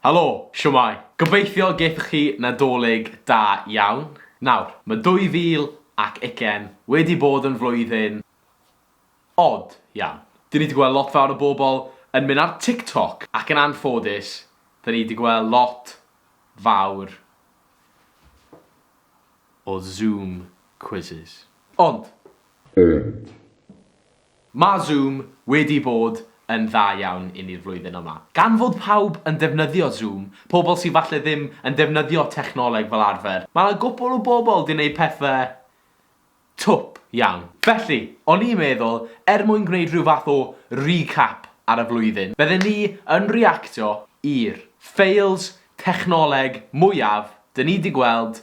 Helo! Shwmae? Gobeithio gaethoch chi Nadolig da iawn. Nawr, mae 2020 wedi bod yn flwyddyn od iawn. Dyn ni 'di gweld lot fawr o bobl yn mynd ar TikTok ac yn anffodus, dyn ni 'di gweld lot fawr o Zoom quizzes. Ond! Ond! Mae Zoom wedi bod yn dda iawn i ni'r flwyddyn yma. Gan fod pawb yn defnyddio Zoom, pobl sydd falle ddim yn defnyddio technoleg fel arfer, mae 'na gwpwl o bobl 'di neud pethe twp iawn. Felly, o'n i'n meddwl, er mwyn gwneud rhyw fath o recap ar y flwyddyn, bydden ni yn reactio i'r fails technoleg mwyaf 'dyn ni 'di gweld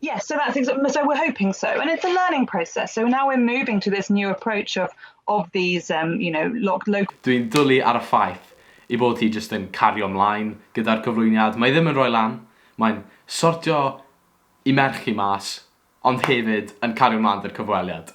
Yes, so that's exactly, so we're hoping so. And it's a learning process. So now we're moving to this new approach of, of these, um, you know, locked local... Dwi'n dwlu ar y ffaith i bod hi jyst yn cario ymlaen gyda'r cyflwyniad. Mae ddim yn rhoi lan, mae'n sortio i merch hi mas, ond hefyd yn cario ymlaen dy'r cyfweliad.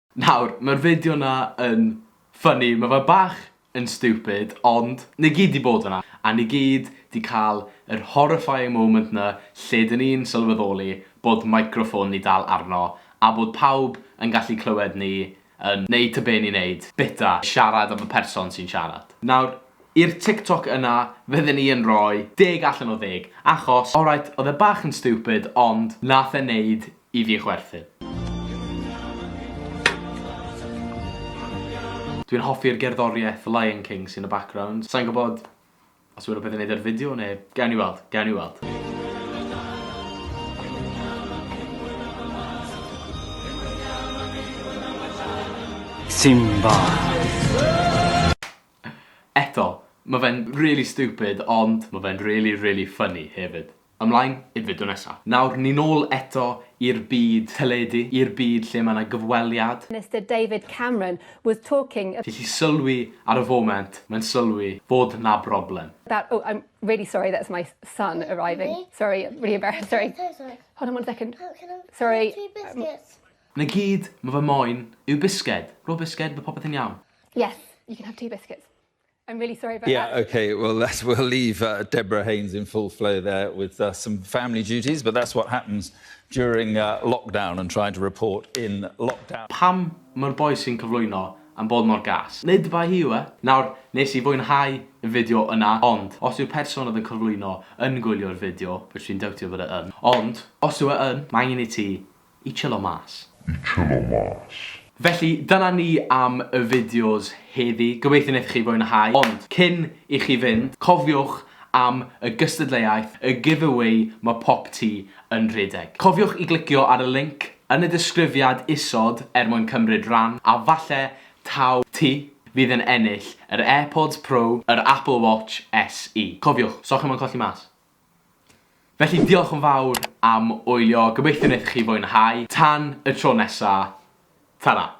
Nawr, mae'r fideo 'na yn funny, mae fe bach yn stupid, ond ni gyd 'di bod yna, a ni gyd 'di cael yr horrifying moment 'na lle 'dyn ni'n sylweddoli bod microffon ni dal arno, a bod pawb yn gallu clywed ni yn neud ta be ni'n neud, bita, siarad am y person sy'n siarad. Nawr, i'r TikTok yna, fydden ni yn rhoi deg allan o ddeg, achos, alright, oedd e bach yn stupid, ond nath e neud I fi chwerthin. Dwi'n hoffi'r gerddoriaeth Lion King sy'n y background. Sai'n gwybod os yw rhywbeth i wneud â'r fideo neu... Gawn ni weld, gawn ni weld. Simba. Eto, ma' fe'n rili stupid ond ma' fe'n rili rili funny hefyd. Ymlaen i'r fideo nesa. Nawr ni'n ôl eto i'r byd teledu, i'r byd lle mae 'na gyfweliad. Mister David Cameron was talking about. Felly sylwi ar y foment, mae'n sylwi fod 'na broblem. About oh I'm really sorry that's my son arriving sorry really embarrassed sorry hold on one second sorry biscuits. 'Na gyd ma' fe moyn yw bisged. Rho bisged, ma' popeth yn iawn. Yes you can have two biscuits. I'm really sorry about yeah, that. Yeah, okay. Well, that's, we'll leave uh, Deborah Haynes in full flow there with uh, some family duties, but that's what happens during uh, lockdown and trying to report in lockdown. Pam mae'r boi sy'n cyflwyno am bod mor gas? Nid fa hi yw e? Nawr, nes i fwynhau y fideo yna, ond os yw'r person oedd yn cyflwyno yn gwylio'r fideo, which dwi'n dewtio bod e yn, ond os yw e yn, mae angen i ti I chillo mas. I chillo mas. Felly, dyna ni am y fideos heddi. Gobeithio wnaethoch chi fwynhau. Ond, cyn i chi fynd, cofiwch am y gystadleuaeth, y giveaway ma' pop ti yn rhedeg. Cofiwch i glicio ar y linc yn y disgrifiad isod er mwyn cymryd ran, a falle taw ti fydd yn ennill yr AirPods Pro, yr Apple Watch SE. Cofiwch, 'so chi mo'n colli mas. Felly diolch yn fawr am wylio, gobeithio wnaethoch chi fwynhau. Tan y tro nesa, tara!